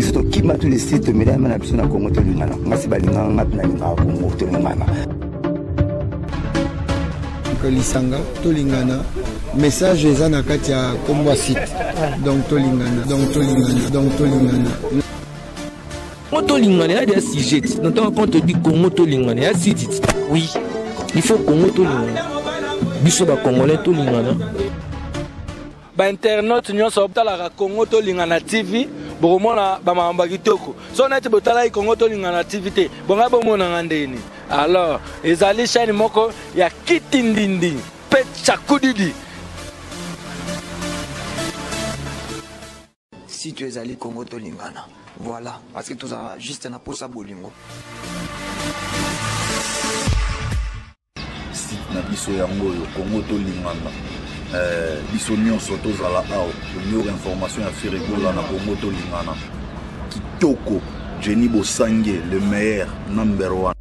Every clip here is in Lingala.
biso tokima tu lesi tomelama na biso na kongo tolingana ngasi balingaka nga mpe nalingaka kongo tolingana lisanga tolingana message eza na kati ya kombo ya site donc tolingana donc tolingana donc tolingana Congo tolingana ya dia sujet na ntango quand on dit Congo tolingana ya site oui il faut Congo tolingana biso ba congolais tolingana ba internautes nyonso botalaka Congo tolingana TV bokomona ba makambo kitoko so neti botalaki Congo tolingana TV te bonga bomonanga ndeni alors ezali chaîne moko ya kitindindi pe chakudidi Si tu ezali Congo tolingana. Voilà, parce que tozala juste na posa bolingo. Site na biso yango oyo Congo tolingana. Eh, biso nyonso tozala awa tomiyoka information ya firigola na Congo tolingana. Kitoko, Jenny Bosange, le meilleur, number one.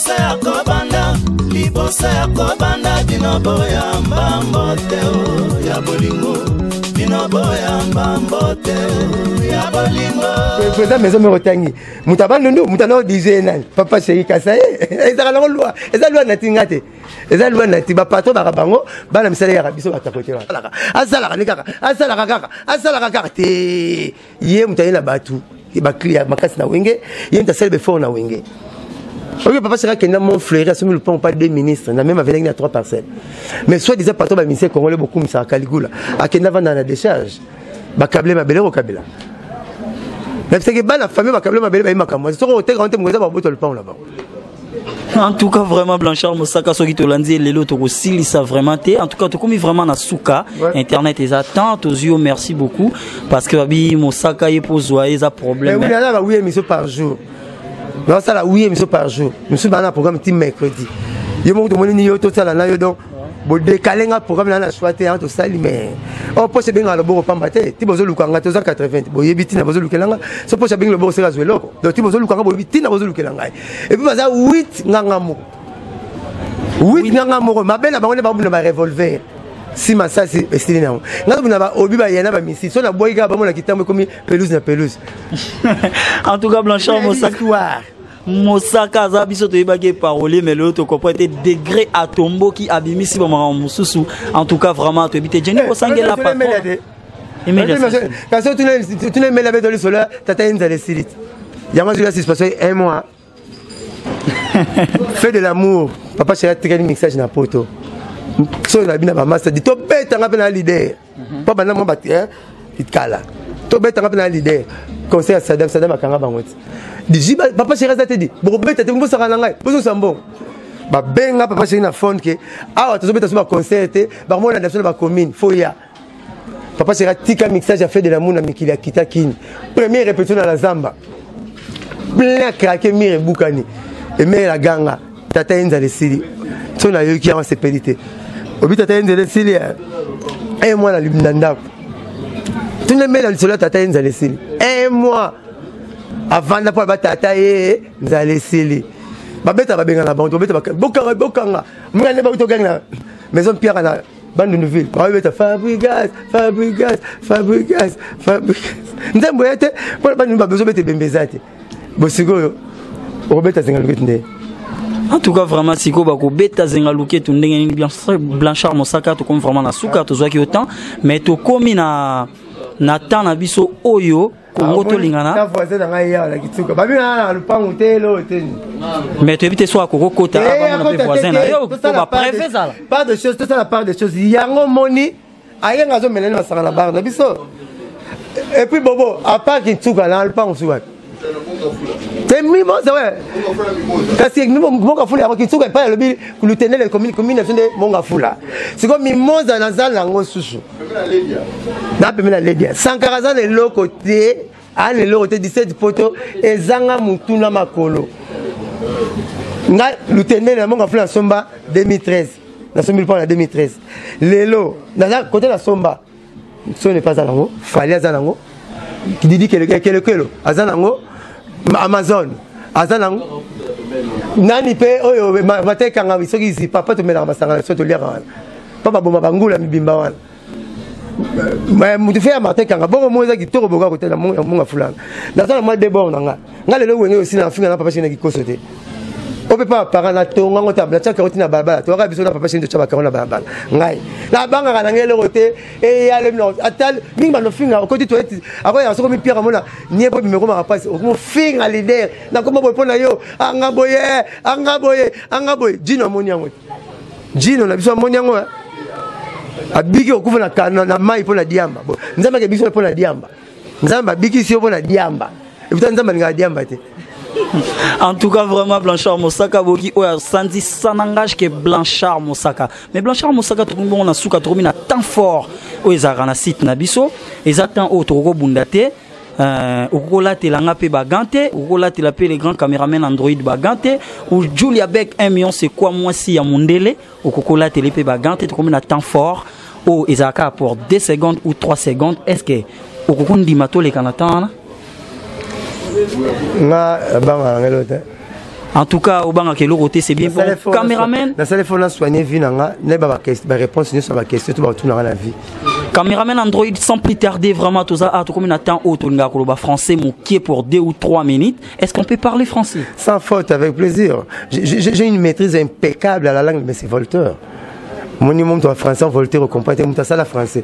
liboso ya kobanda liboso ya kobanda bino boya mbambo te ya bolingo bino boya mbambo te ya bolingo président maison moko otangi moto abandundu moto anao dize nani papa sheri kasa ye ezaka nango lwa eza lwa nati nga te eza lwa nati bapatro baka bango bana misala yaka biso batakotelaka asalaka ni kaka asalaka kaka asalaka kaka te ye moto aye na bato baclia makasi na wenge ye moto asali befort na wenge oyo papa saka akenda mon fleuri asomi lopango pa deux ministre na meme avelaki na trois parcelle mais soit disant patron baministère congolais bokumisaka kaligula akenda vanda na décharge bakable mabele kokabela nabisaki bana famille bakable mabele baye makambo soki oteka wante moko eza baboto lopango na bango en tout cas vraiment blanchard mosaka soki tolandi lelo tokosilisa vraiment te en tout cas tokomi vraiment na suka internet eza temps tozwi yo merci beaucoup parce que babi mosaka ye mpo ozwa ye eza problème mais oui, nazalaka oui émission par jour naosala oui émission par jour mosusu baa na programme ti mercredi yo moko tomoni nini yo tosala na yo donc bodekale nga programme na na swa te yango tosali mais o oh, mposa ebengaka loboko pamba te ti bozoluka nga toza 80 boyebi ntina bozolukela nga so mposa abengi loboko seka azwa eloko donc ti bozoluka nga boyebi ntina bozolukela ngai et puis baza 8 nganga moko 8 nganga moko mabe na bango nde babuna ba revolver si masasi esili na yango nga tobina baobi baye na bamisi so nabwaki kaka bamona kitambo ekomi pelouse na pelouse en tout cas blanchard mosaka mosaka aza biso toyebaki eparole mais lelo tocomprend te degré atomboki abimisi bamakambo mosusu en tout cas vraiment toyebi te jeni kosangela eh, patron kasi otuna emeli abeto lisolo tata ye nzala esili yango azwila suspension un mois fait de l'amour papa shela atikali mixage na poto soki na bina bamasta di tobetanga mpe na lider mpo banda mwa kala tobetanga mpe na lider conseil ya sadam sadam akanga bango ti diji papa sheri aza te di bokobeta te bosaka na ngai bozosa mbongo babenga papa sheri na fone ke awa tozobeta so baconcert te bango molanda biso na bacommune fo ya papa sera tika mixage ya fede de l'amour na mikili ya kita kini premier répétition na la zamba plein ya krake mire ebukani emere na ganga tata ye nzala esili so nayoki yango asepeli te obi tata ye nzela esili eh? e eh, mwana na ndako tuna emere na lisolo ya tata ye nzala esili e eh, mwa avanda mpo alaba tata ye nzala esili babeta babengana bango tobeta bokanga bokanga mwana nde bauti ogangi na maison pierre na bandundu ville babeta fabrigas fabrigas fabrigas fabrigas nzembo ye te mpo na bandundu babezo beta ebembe eza te bosikoyo okobeta zinga luketi nde en tout cas vraiment siko bakobeta zenga luketu ndenge nini blanchard mosaka tokomi vraiment na suka tozwaki yo temps mais tokomi na na temps na biso oyo kongo tolingana na voisin na ngai yawa na kituka babengana na lupangu te loo te ni mais toyebi te so akoki okota eh, abamona mpe voisin na yo po bapreve ezala part de chose tosala part de chose yango moni ayenga azomelani masanga na bar na biso epuis bobo apart kintuka na lupangu suka te mimoza we kasi mongafula yango kinsuka epai alobi lutenele commune na biso nde mongafula sikoyo mimoza nazala yango susu na pembe na ledia sankara aza na eloko te aa na eloko te 17 poto ezanga motu na makolo nga lutende na monga fula nasomba 2013 nasombi lupao na 2013 lelo naza kote nasomba soni epa aza nango fali aza nango didi kelekelo aza nango amazon aza nango nani mpe oyo matekanga soki zipa mpo tomelaka masanga na biso toliaka wana mpo baboma bangula mibimba wana moto fe ya martin kanga bongo mo eza kitoko boka kotela monga fulana naza na mwa debord na nga nga lelo wenge osila na finga na papa shene kikoso te ope pa parent na tonga ngo tabla tia karoti na balabala toyaka biso na papa shene totya bakaro na balabala ngai nabangaka na ngai eloko te eyale mino ata mingi banofinga okoti toyeti akoyaka soko mipiaka mona nie boye mimekomaka mpasi okomofinga lider nakoma boye mpo na yo anga boye anga boye anga boye jino amoni yango te jino na biso amoni yango eh? abiki okufa na, na, na mai mpo na diamba nzambe ake biso mpo na diamba nzambe abikisi yo mpo na diamba eputa nzambe alingaka diamba te en tout cas vraiment blanchard mosaka boki oyo asanzi sans langage ke blanchard mosaka mais blanchard mosaka tokomi bongo na suka tokomi na temps fort oyo ezalaka na site na biso eza temps oyo tokoki kobunda te Euh, okoki kolatela nga mpe bagan te okoki kolatela mpe le grand cameraman android bagan te ou julia bek 1 million c'est quoi mwasi ya mondele okoki kolatela mpe bagan te tokomi na temps fort oyo oh, ezalaka pour 2 secondes ou 3 secondes est ce que okoki kondima toleka na temps wana nga bangana ngelo te en tout cas obangaka eloko te c'est bien bon cameraman nasali fona soigne vie na nga nayeba baréponse nyonso ya baquestion to batuna nga na vie cameraman android sans plus tarder vraiment toza a ah, tokomi na temps oyo tolingaka koloba français mokie pour deux ou trois minutes est ce qu'on peut parler français sans faute avec plaisir j'ai une maîtrise impeccable à la langue mais c'est volteur moni moto ya français voltaire okompa te moto asala français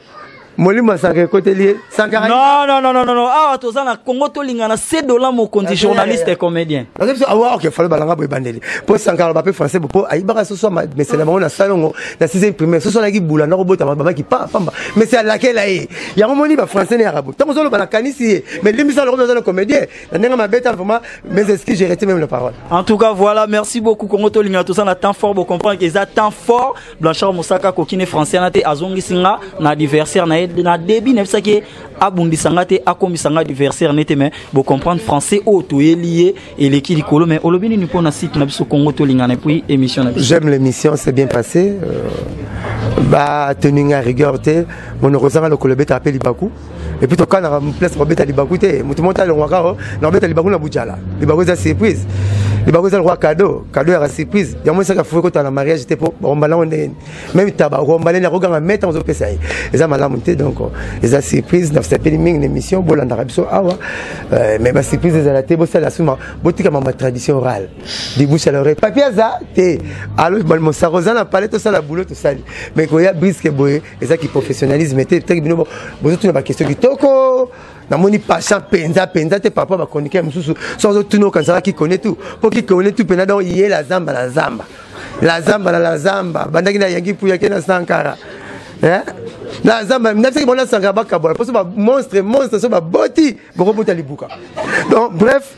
molimo sanka ekoteli ye sanka non non non non non awa toza na Congo tolingana se dola mokonzi journaliste et comédien parce que awa ok falo balanga boye bandeli po sanka ba pe français po ayibaka soso ma mais c'est la bango na salongo na 6e primaire soso alaki bula na kobota ba bamaki pa pamba mais c'est alaki la ye yango moni ba français ne arabu tango zolo bana kanisi ye mais limbisa lokolo zolo comédien na ndenge mabeta vraiment mes excuses j'ai arrêté même la parole en tout cas voilà merci beaucoup Congo tolingana toza na temps fort bo comprendre que ça temps fort Blanchard Mosaka akoki ne français wana te azongisi nga na adversaire na ye na début nayebisaki ye abundisa nga te akomisa nga adversaire ne te mais bocomprendre français oyo toyeli ye eleki likolo mais olobi nini mpo na site na biso congo tolingana epuis émission na biso j'aime l'émission c'est bien passé euh, batenu nga rigueur te monokozanga lokolo ebetaka mpe libaku epuis tokanaka place kobeta libaku te moto moko talongwaka o na kobeta libaku na bujala libaku eza surprise libaku eza lokwa kado kado yaka surprise yango esaka fuki kotala na mariage te mpo bakombana yango ndenge meme taba okombana nini akoganga meta ozopesa ye eza malamu te donc eza surprise nasepeli mingi na émission bolandaka biso awa euh, mais basurprise ezala te bosala suma botika mama tradition orale dibouche à l'oreille papier aza te alo mosaka oza na pale tosala boulot tosali mais koya briske boye eza ki professionnalisme te teki bino bozotuna bakestion kitoko namoni pasha mpenza mpenza te par rapport ya bachroniqueur mosusu so azotuna okanisaka kikone tu mpo kikone tu mpenza donc ye la zamba la zamba la zamba na la zamba bandaki na yangi puya ke na sankara eh? na zamba nabisaki bona sankara bakabola mposo bamonstre monstre so baboti bokobota libuka donc bref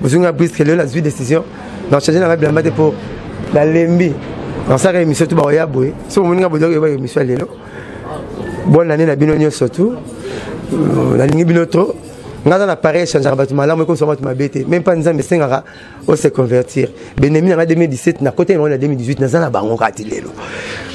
bozwi nga briske lelo nazwi décision na change nanga bilamba te mpo nalembi nasalaka émission tu bakoya boye soki omoni nga bodoki oyeba émission ya lelo bonne année na bino nyonso tu euh, nalingi bino trop nga aza na pareil echangeaka bato malamu ekomisa bato mabe te meme mpa nzambe esengaka ose convertir benemi nanga 2017 na kota yango na 2018 naza na bango kaka ti lelo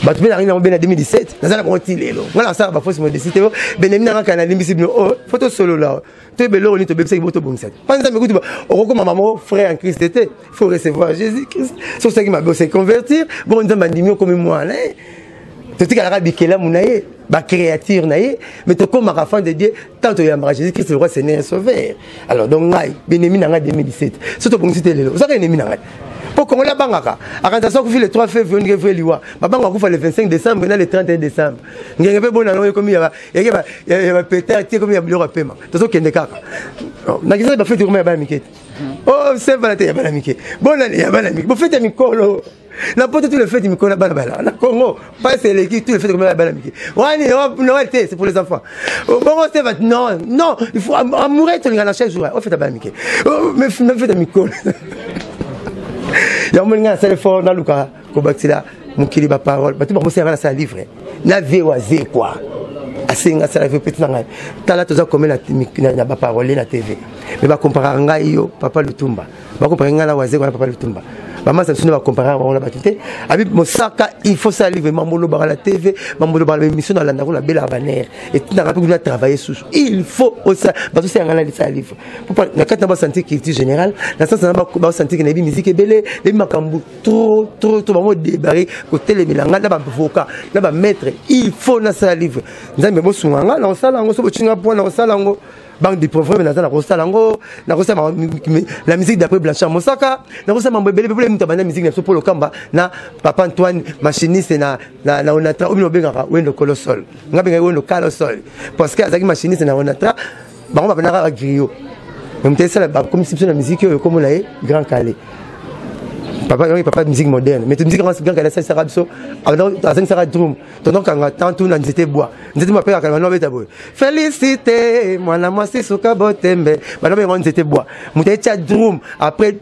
bato mpe nangi nango be na 2017 naza na bango ti lelo nga na nasalaka bafosi modesi te benemi nanga kaka nalimbisi bino o oh, fo tosolola toyeba eloko nini tobebisaki bo tobongisa te mpa nzambe kutu okokoma mamo frère en christ te faut recevoir jésus christ so osalaki mabe ose convertir bongo nzambe andimi okomi mwana ye totikalaka bikelamu na ye bacréature na ye mais tokomaka fan de dieu ntango toyambaka jésus christ lokwa seigneur et sauveur alors donc ngai benemi na ngai 2017 so tobongisi te lelo ozaka enemi na ngai mpo congolais abangaka akanisa so akufi le 3 février ondike vrai liwa babanga akufa le 25 décembre na le 31 décembre ngenge mpe bona yango ekomi yake bapeter te komi ya biloko ya pema tozokende kaka oh, nakisaki bafeti koma ya bana mike te o oh, sevana te ya bana mike bonani ya bana mike bofeti ya mikolo na poto tu le feti mikolo ya bana bana na congo pasi eleki tu le feti koma ya bana mike wani noel te c'est pour les enfants oh, bongo seva non non il faut amoureux tolinga na chaque jour ofeta bana mike na feti ya mikolo yango molinga nasali fort naluka kobakisela mokili baparole bato bakosala nga nasala livre na vie wa ze kua asenga asala vie peti na ngai tala toza kome na baparole na tv me bakomparaka ngai yo papa lutumba bakomparaka ngai na waze kua na papa lutumba bamasa biso nde bakomparaka bango na bato te abi mosaka il faut sala livre mambo olobaka na tv mambo olobaka na émission nalandako na bela banere etindaka mpe kuna travaille susu il faut osala bazosenga ngai nalisala livre na kati na basanti culture générale na sansa na basanti ke nayebi miziki ebele nayebi makambo trop trop trop bango debare kotelemela ngai na bavoka na bamaître il faut nasala livre nzambe bosunga ngai na kosala yango so bocinga mpo na kosala yango banque de provreme naza na kosala yango na kosala la musique d'après blanchard mosaka na kosala mambo ebele bepole moto abanda musique na biso polo kamba na papa antoine machiniste na, na, na onatra oyo bino obengaka wendo kolosol ngai bengaki wendo kalosol parce que azalaki machiniste na onatra bango babanda kaka griyo me moto esala bakomisi biso na miziki oyo ekomona ye grand kale papa yango papa musique moderne mais musique yango grand kale asalisaka biso azangisaka drum tondokanga temps tuna nzete bwa nzete bwa apekaka bana babeta boye félicité mwana mwasi suka botembe bana bayango nzete bwa moto etya drum après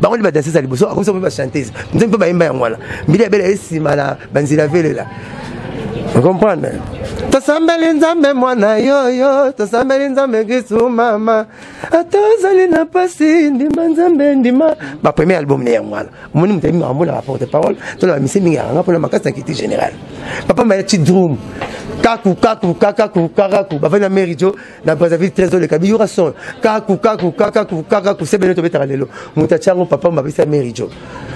bango nde badansese ya liboso akomisa mpe bachantese nzambe mpe bayemba yango wana mbili ya bela ye nsima na banzela velela okomprendre tosambeli nzambe mwana yoyo tosambeli nzambe kristu mama ata ozali na mpasi ndima nzambe ndima bapremier album ne yango wana omoni moto ayebi makambo na baporte parole to na bamisie mingi yakanga mpona makasi na kiti général papa maya chidrum kaku kaku kakaku kakaku bavandi na mary jo na brazzaville très oleka biyura son kaku kaku kakaku kakaku se bene tobetaka lelo moto atya yango papa mabapesi ya mary jo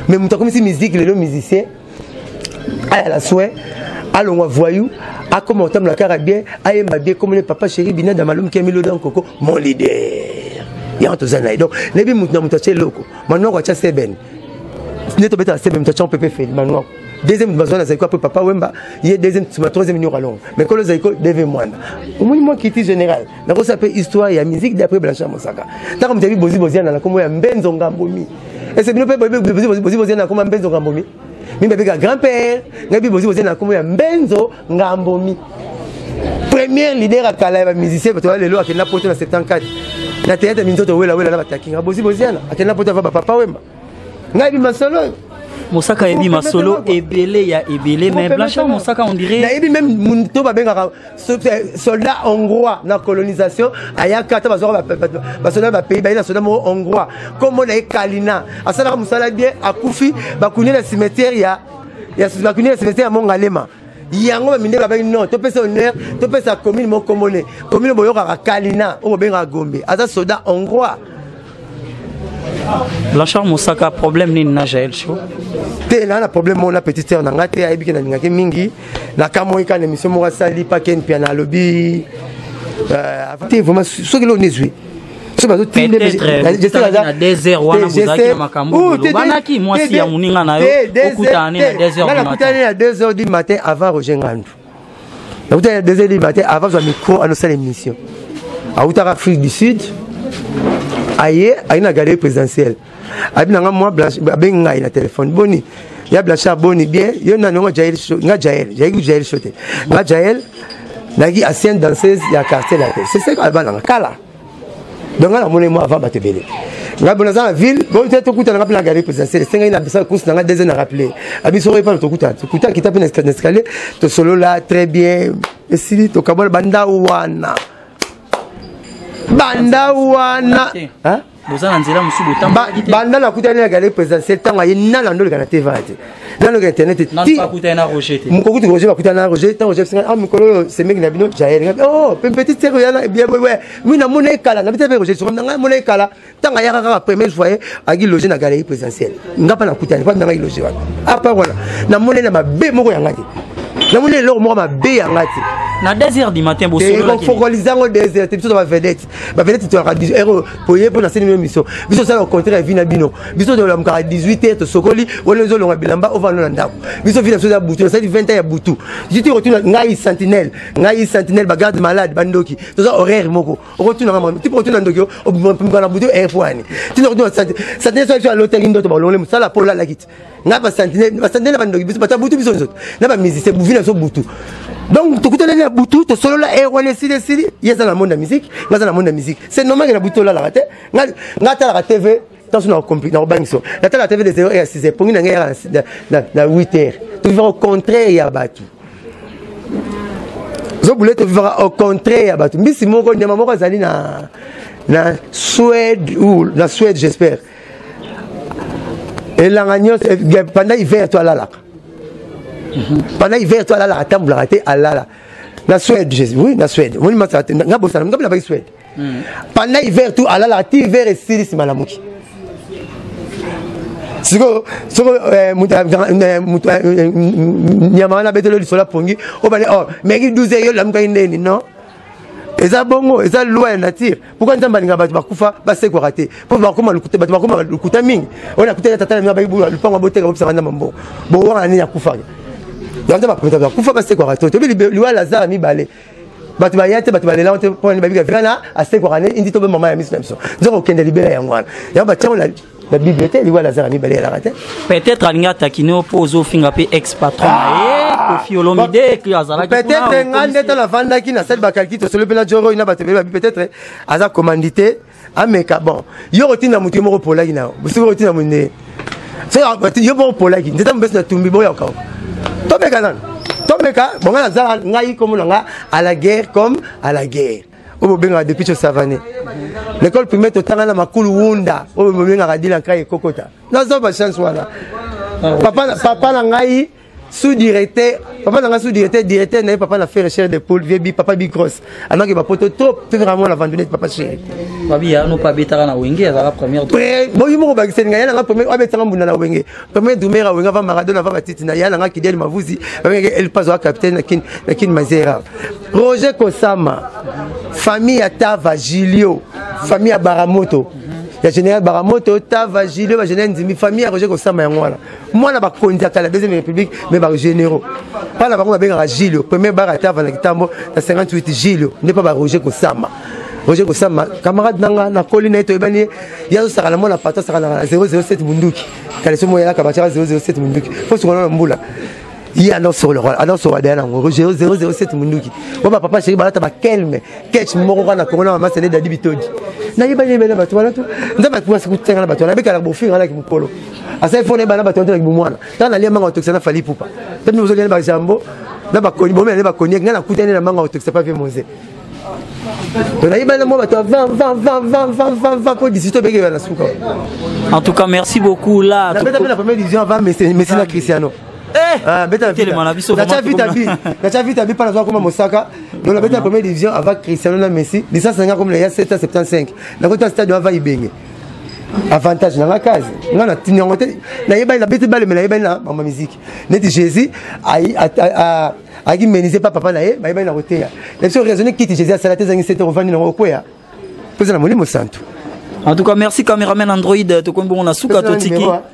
mais moto akomisi musique lelo musicien aya la soin alongwa voyou akoma kotambola kaka bien ayemba bien komone papa chéri binada malum kemilo dan koko mon leader yango toza na ye donc nayebi moto na moto atya eloko manoko atya seben nde tobetaka seben moto atya mpepe feli manoko deuxième moto bazwa na zaiko apres papa wemba ye deuxième sima troisième nyoko alongo mais kolo zaiko deve mwanda omoni mwa kiti général nakosala mpe histoire ya musique d'après blanchard mosaka ntango moto yabi bozi boziana na nkombo ya mbenzo ngambomi ese bino mpe bozi boziana na nkombo ya mbenzo ngambomi mimi babeka grand père ngai bi bozi boziana na nkombo ya mbenzo ngambomi première leader ya kala ya bamusicien bato ya lelo akenda poto na 74 na teyatre minzoto wela wela na batakinga bozi boziana akenda poto ava bapapa wemba ngai bi masolo oyo mosaka yebi masolo ebele ya ebele mais blanchard mosaka on dirait nayebi même moto babengaka eh, soldat hongrois na colonisation ayaka ata bazwaka basoldat bapays baye na soldat moko hongrois nkombo na ye kalina asalaka mosala bien akufi bakuni na cimetière ya bakuni na cimetière ya mongalema yango baminde babaki non topesa honneur topesa commune moko nkombo ne commune boyokaka kalina oyo bobengaka gombe aza soldat hongrois Blanchard Mosaka problème nini na Jael Show te na na problème moko na petite sœur na ngai te ayebi ke nalingaki mingi nakamoi kaka na émission moko asali pake mpia na alobi euh, te vraiment soki leo nezwi soki bazotindemwasi ya moninga na yo okutana ne na 2 heures du matin avant roger ngandu nakutana deuxième ligne matin avant zwa micro anosala émission awutaka afrique du sud aye aye na galerie présidentielle abi na nga mwa abengi ngai na telefone boni ya blanchard boni bien yo nani nga jael nga jael jaeki jael shote nga jael naki ancienne danseuse ya quartier latin c'est ce que albananga kala donc ngai namoni mwa avant bato ebele ngai bona aza na ville bote tokutana ngai mpe na galerie présidentielle esengeli na bisa course na ngai deuxième na rappele abiso oyo epana tokutana tokuta kita mpe na escalier tosolola très bien esili tokabola banda wana banda wana boza na nzela mosusu botambaki te banda nakutani na galerie présidentielle ntango aye nana ndoleka na teva te nano ka internet te mokokuti roger bakutana na roger ntango roger bisinga a mikolo oyo semeki na bino jael ngabi o mpe petit seko yana mi namona ye kala na bita mpe roger sokomi na ngai namona ye kala ntango ayaka kaka premier fois ye aki loge na galerie présidentielle nga mpa nakutani mpa nanga iloge wana apart wana namona ye na mabe moko yanga te namoni eloko moko mabe yanga te na 2 heures du matin bosolola te ko fokoliza ngo 2 heures te biso to ba vedette bavele titolaka ero poye mpo naseni bino miso biso osala ocontre ya vi na bino biso tolamukaka 18 te tosokoli wana ezolonga bilamba ovanda na ndako biso vi na biso eza butu nasali 20 ya butu jiti okotuna ngai sentinelle ngai sentinelle bagarde malade bandoki toza horaire moko okotunaka mwa tipo okotuna ndoki obimaka na butu air po ani tina okotuna sentinelle soki biso alotaki ndoto balongoli mosala mpo olalaki te na basantine basantine na bandoki biso bato ya butu biso nzoto na bamusicien buvi na biso butu donc tokutanani na butu tosolola e eh, wana esili esili ye aza na monde ya musique nga aza na monde ya musique c'est normal ke na butu tolalaka te nga atalaka tv ntanso nakobangisa natala tv de 0 heure ya 6 heure pongi na ngai yaka na 8 heure tofifaka au contraire ya bato zobule tofifaka au contraire ya bato mbisi moko nyama moko azali na na suède ou na suède j'espère elanga nyonso eh, pendant hiver to alalaka pendant hiver to alalaka atambolaka te alala na suède jésus oui na suède omoni masala te nga bosana nga bilabaki suède hmm. pendant hiver to alalaka ti hiver esili nsima alamuki sikoyo soko eh, eh, nyama wana abetelo lisolo apongi obale oh, meki 12 yo lamukaki ndeni non eza bongo eza loi ya nature pourkui nzambe alinga bato bakufa basekwaka te mpo bakoma lokuta bato bakoma lokuta mingi oyo nakutaki tata na bino abaki lupango aboteka bobisaka nzambe mbongo bowanga nini akufaka yango bato bakufa basekwaka te toyebi liwa ya lazare mibale bato baya te bato balela te mpo babika vrana asekwaka ne indi tobe mama ya miso na biso nzoko okende libela yango wana yango batiango na bible te liwa lazare ya mibale elaka te peut-être alingi atakine yo mpo ozofinga mpe ex patron na ah! ye kofi olomide azalaki peut-être ngai nde ntango nafandaki nasali bakalki tosolo mpe na joroi na bato ebele babi peut-être aza commandite ameka bon yo kotinda moto ye moko polaki na yo bosoki kotinda moto nde ah, yo moko polaki nzeta mobesi na tumbi boyokao tomeka nano tomeka bongai nazala ngai komona nga à la guerre comme à la guerre oyo bobengaka depuis tso savane l'école primaire totanga na makulu wunda oyo bobengaka dila nkai ekokota naza bachance wana papa na ngai sous-directeur papa na ngai sous-directeur directeur na ye papa na fere chere de poule vie bi papa bi grosse anaki bapoto trop fefera mwana vandonete papa chere babi ya no pa betaka na wenge azala première boyi moko bakiseli ngai yananga premier abetaka mbunda na wenge premier dumera wenge ava maradona ava batiti na yananga kideli mavuzi babengeke elpazo a capitaine na kin na kin mazera roger kosama famille ya tava julio famille ya baramoto ya général baramoto tava julio bagénéral ndimi famille ya roger kosama yango wana mwana bakonzi ya kala deuxième république mais bagénéraux mpa na bango babengaka julio premier bar ya tava na kitambo na 58 julio nde mpa baroger kosama roger kosama camarade na nga nakoli na ye toyebani ye ye azosaka na mwana pato asaka na 007 munduki kala somo yalaka bacaka 007 munduki fo sukana na mbula ye anosoloka anosoloka daya nango 007 munduki oyo bapapa sheri balata bakelme kech moko kaka na kongo na mama sele dadi bitodi nayebani yebele na bato wana to nzambe akumasi kotenga na bato wana abekalaka bofinga naki mokolo asali fona yebana bato wana to naki bomwana ntango nalia manga otokisa na fali pupa mpe mino ozoliani bajambo na bakoni bomela ne bakoni ngai nakutani na manga otokisa pa vie moze en tout cas merci beaucoup là la première division avant messi na cristiano Eh, ah, beta telema na biso natia vita bi natia vita bi mpana azwakoma mosaka donc nabeta première division avant cristiano na messi licence nanga komela ya 775 nakota stade ava ibenge avantage nanga kazi nga natini yango te nayebani nabeti baleme nayebani na mama miziki neti jésus ayaki menise pa papa na ye bayebani na koteya na biso raisonne kiti jésus asala te ezangi sete ovandi nango okweya mpo eza na molimo santu en tout cas merci cameraman android tokomi bongo na suka totiki